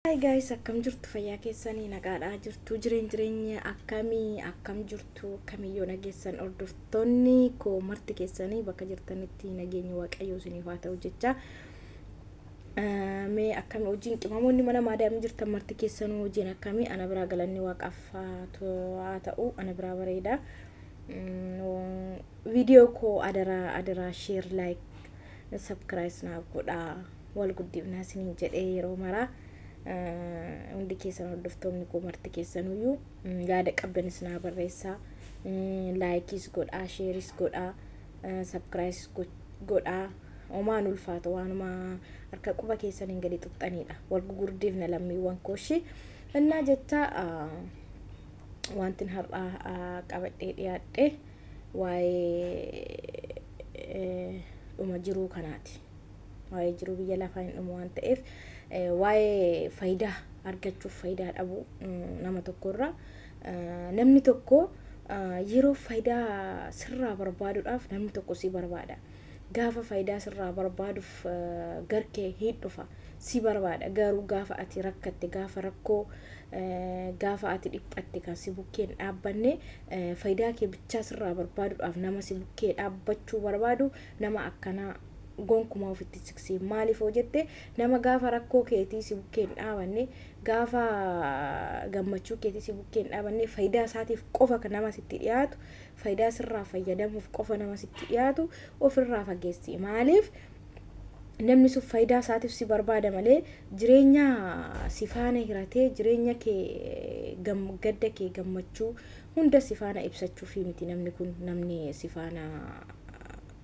Hi guys akkam jirtu fayyaa keessanii nagaadhaa jirtu jireen jireenya akkamii akkam jirtu akkamii yoo nageessan hordoftoonni koo marti keessanii bakka jirtanitti nageenyi waaqayyoo isiniif haa ta'u jecha mee akkami hojiin qimamoonni mana maadaamii jirtan marti keessanuu hojiin akkamii ana biraa galanni waaqaaf haa ta'u ana biraa bareeda viidiyoo koo adaraa adaraa sheer laayik sabkiraayis naaf godhaa wal guddifnaa isiniin jedhee yeroo maraa hundi keessan hordoftoonni koo marti keessanuyyuu yaada qabdan isinaa barreessaa laayikiis godhaa sheeris godhaa sabkiraayis godhaa omaan ulfaata waanuma harka quba keessaniin gadi xuqxaniidha wal gugurdiifna lammiiwwan kooshii innaa jecha wantin har'aa qabadhee dhiyaadhe waa'ee dhuma jiruu kanaati. waa'ee jiruu biyya lafaa hin dhumu waan ta'eef waa'ee faayidaa argachuuf faayidaa dhabu nama tokkorra namni tokko yeroo faayidaa sirraa barbaaduudhaaf namni tokko si barbaada. Gaafa faayidaa sirraa barbaaduuf garkee hin dhufa si barbaada garuu gaafa ati rakkatte gaafa rakkoo gaafa ati dhiphatte kan si bukkeen dhaabbanne faayidaa kee bichaa sirraa barbaaduudhaaf nama si bukkee dhaabbachuu barbaadu Nama akkanaa gonkumaa ofitti hin siqsiin. Maaliif yoo jette nama gaafa rakkoo keetii si bukkee hin dhaabanne, gaafa gammachuu keetii si bukkee hin dhaabanne, fayidaa isaatiif qofa nama sitti dhiyaatu, fayidaa sirraa fayyadamuuf qofa nama sitti dhiyaatu ofirraa fageessi. Maaliif namni sun fayidaa isaatiif si barbaada malee jireenya si faana hiratee jireenya kee gam, gadda kee gammachuu hunda si faana ibsachuufii miti namni kun namni si faana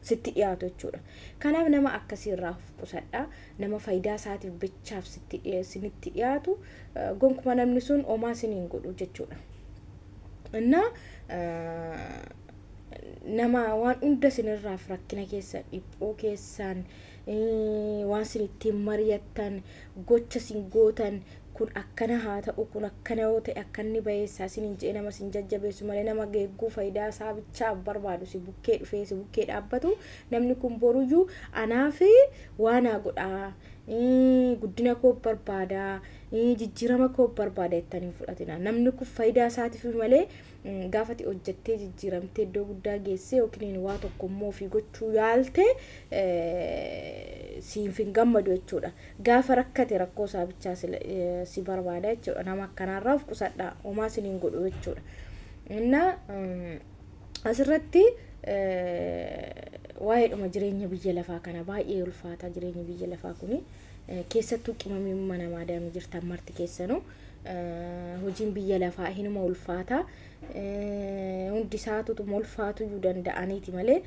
sitti dhiyaatu jechuudha. Kanaaf nama akkasii irraa of qusadhaa. Nama faayidaa isaatiif bichaaf sitti dhiye- isinitti dhiyaatu eh, gonkuma namni sun homaa isin hin godhu jechuudha. Innaa eh, nama waan hunda isinirraaf rakkina keessan, dhiphuu keessan, waan isin ittiin mari'attan, gocha isin gootan, kun akkana haa ta'u, kun akkana yoo ta'e akkanni bayeessaa isiniin jedhee nama isin jajjabeessu malee nama geegguu fayidaa isaa bichaaf barbaadu si bukkee dhufee si bukkee dhaabbatu namni kun boruyyuu anaaf waa naa godhaa guddina koo barbaada jijjiirama koo barbaada jettanii hin fudhatina namni kun fayidaa isaatiif malee gaafa ati hojjettee jijjiiramtee iddoo guddaa geessee yookiin waa tokko immoo ofii gochuu yaalte siif hin gammadu jechuudha. Gaafa rakkate rakkoo isaa bichaa si barbaada jechuudha. Nama akkanaarraa of qusadhaa homaa sin hin godhu jechuudha. Innaa asirratti waa'eedhuma jireenya biyya lafaa kana baay'ee ulfaataa jireenyi biyya lafaa kuni keessattuu qimamii mana maadaamii jirtan marti keessanuu hojiin biyya lafaa hinuma ulfaata hundi isaatutuma ulfaatuyyuu danda'aniiti malee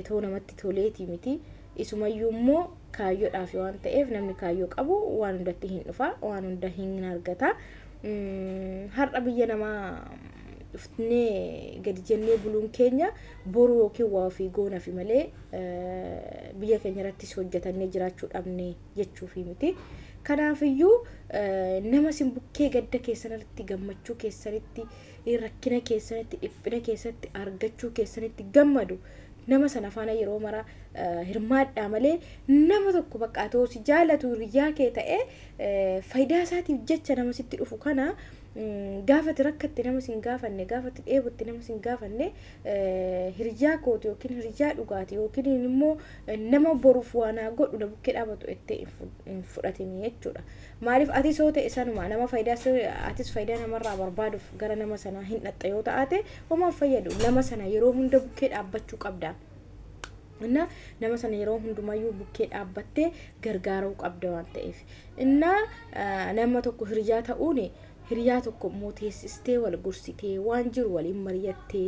too namatti toleeti miti isumayyuu immoo kaayyoodhaaf waan ta'eef namni kaayyoo qabu waan hundatti hin dhufa waan hunda hin argata har'a biyya namaa dhufnee gadi jennee buluun keenya boru yookiin waa ofii goonafi malee biyya keenya irrattis hojjetannee jiraachuu dhabnee jechuufii miti. Kanaafiyyuu nama isin bukkee gadda keessanirratti gammachuu keessanitti rakkina keessanitti dhiphina keessatti argachuu keessanitti gammadu nama sana faana yeroo mara hirmaadhaa malee nama tokko bakka atoo si jaalatu hiryaa kee ta'ee fayidaa isaatiif jecha nama sitti dhufu kana gaafati rakkatti nama sin gaafanne gaafati dheebutti nama sin gaafanne hiryaa kooti yookiin hiryaa dhugaati yookiin immoo Nama boruuf waa naa godhu na bukkee dhaabatu ettee hin fu- hin fudhatini jechuudha. Maaliif atis yoo ta'e sanuma nama faayidaa si- atis faayidaa namarraa barbaaduuf gara nama sanaa hin dhaqxa yoo ta'aate homaa hin fayyadu. Nama sana yeroo hunda bukkee dhaabbachuu qabda. Innaa nama sana yeroo hundumayyuu bukkee dhaabbattee gargaaruu qabda waan ta'eef. Innaa ah, nama tokko hiriyaa ta'uun hiriyaa tokko immoo teessistee wal gorsitee waan jiru waliin mari'attee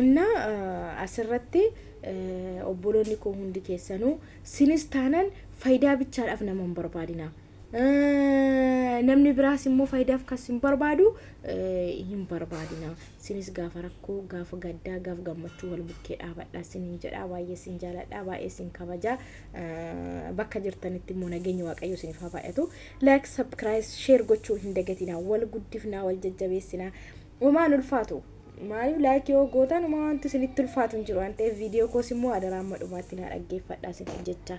Inna asirratti obboloonni koo hundi keessanuu sinis taanan fayidaa bichaadhaaf nama hin barbaadina. Namni biraas immoo fayidaaf kan sin barbaadu hin barbaadina. Sinis gaafa rakkoo, gaafa gaddaa, gaafa gammachuu wal bukkee dhaabadha sinin jedha. Baay'ee sin jaaladha, baay'ee sin kabaja. Bakka jirtanitti immoo nageenya Waaqayyoo sinif haa baay'atu. Like, subscribe, share gochuu hin dagatina. Wal guddifnaa, wal jajjabeessinaa. Homaa hin ulfaatu. Maaliif like yoo gootan homaa wanti isinitti ulfaatu hin jiru waan ta'eef viidiyoo koos immoo adaraa amma dhumaatti naa dhaggeeffadhaa isiniin jecha.